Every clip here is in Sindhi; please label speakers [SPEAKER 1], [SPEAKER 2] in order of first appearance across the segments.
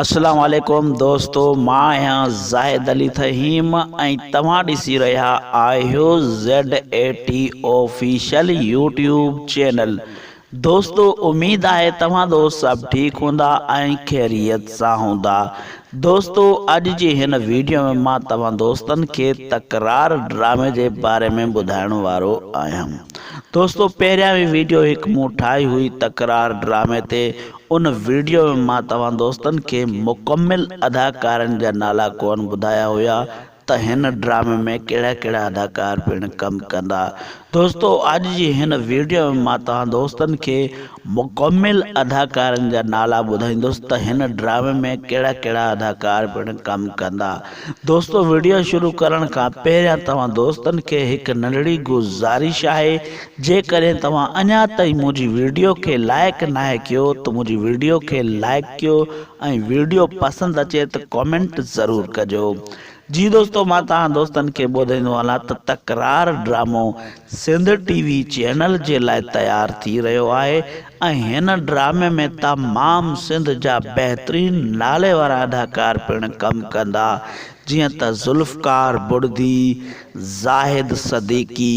[SPEAKER 1] اسلام عليڪم دوستو مان آهيان زاهد علي ٿهيم ۽ توهان ڏسي رهيا آهيو Z A T official YouTube channel دوستو اميد آهي توهان دوست سڀ ٺيڪ هوندا ۽ خيريت سان هوندا دوستو اڄ جي هن ويڊيو ۾ مان توهان دوستن کي تڪرار ڊرامي جي باري ۾ ٻڌائڻ وارو آهيان دوستو پهريان به ويڊيو هڪ مون ٺاهي هئي تڪرار ڊرامي تي ان وڊيو ۾ مان توهان دوستن کي مڪمل اداڪارن جا نالا ڪون ٻڌايا هيا ته هن ڊرامي ۾ ڪهڙا ڪهڙا اداڪار پڻ ڪم ڪندا دوستو اڄ جي هن وڊيو ۾ مان توهان دوستن کي مڪمل اداڪارن جا نالا ٻڌائيندس ته هن ڊرامي ۾ ڪهڙا ڪهڙا اداڪار پڻ ڪم ڪندا دوستو وڊيو شروع ڪرڻ کان پهريان توهان دوستن کي هڪ ننڍڙي گذارش آهي جيڪڏهن توهان اڃا تائين منهنجي ويڊيو کي لائيڪ ناهي ڪيو ته منهنجي ويڊيو کي لائيڪ ڪيو ۽ ويڊيو پسند اچي ته ڪمينٽ ضرور ڪجو. جي دوستو مان توهان دوستن کي ٻڌائيندو هلان ته تڪرار ڊرامو سنڌ ٽي وي چينل جي لاء تيار ٿي رهيو آهي ۽ هن ڊرامي ۾ تمام سنڌ جا بهترين نالي وارا اداڪار پڻ ڪم ڪندا جيئن ته ذوالفقار بڙدي، زاهد صديقي،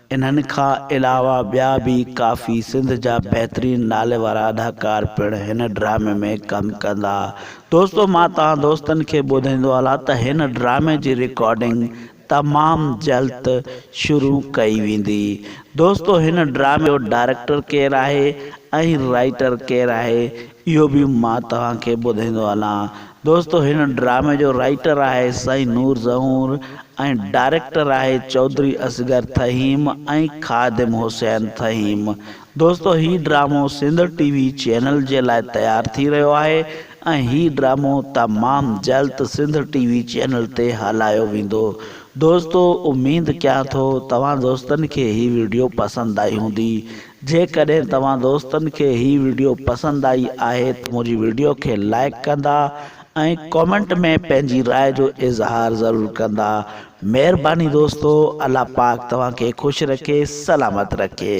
[SPEAKER 1] انهن کان علاوه ٻيا به ڪافي سنڌ جا بهترين ناليوارا اداڪار پڻ هن ڊرامي ۾ ڪم ڪندا. دوستو مان توهان دوستن کي ٻڌائيندو هلان ته هن ڊرامي جي رڪارڊنگ تمام جلد شروع ڪئي ويندي. دوستو هن ڊرامي جو ڊائريڪٽر ڪير آهي ۽ رائيٽر ڪير آهي اهو به مان توهان کي ٻڌائيندو هلان. دوستو هن ڊرامي جو رائيٽر آهي سائين نور زهور ۽ ڊائريڪٽر آهي چوڌري اصغر ٿهيم ۽ خادم حسين ٿهيم. دوستو هي ڊرامو سنڌ ٽي وي چينل جي لاء تيار ٿي رهيو آهي ۽ هي ڊرامو تمام جلد سنڌ ٽي وي چينل تي هلايو ويندو. دوستو اميد ڪيان ٿو توهان دوستن کي هي وڊيو پسند آئي هوندي. جيڪڏهن توهان دوستن کي هي وڊيو پسند آئي آهي ته منهنجي وڊيو کي لائيڪ ڪندا ۽ ڪامينٽ ۾ پنهنجي راء جو اظهار ضرور ڪندا مهرباني دوستو الله پاڪ توهان کي خوش رکي سلامت رکي.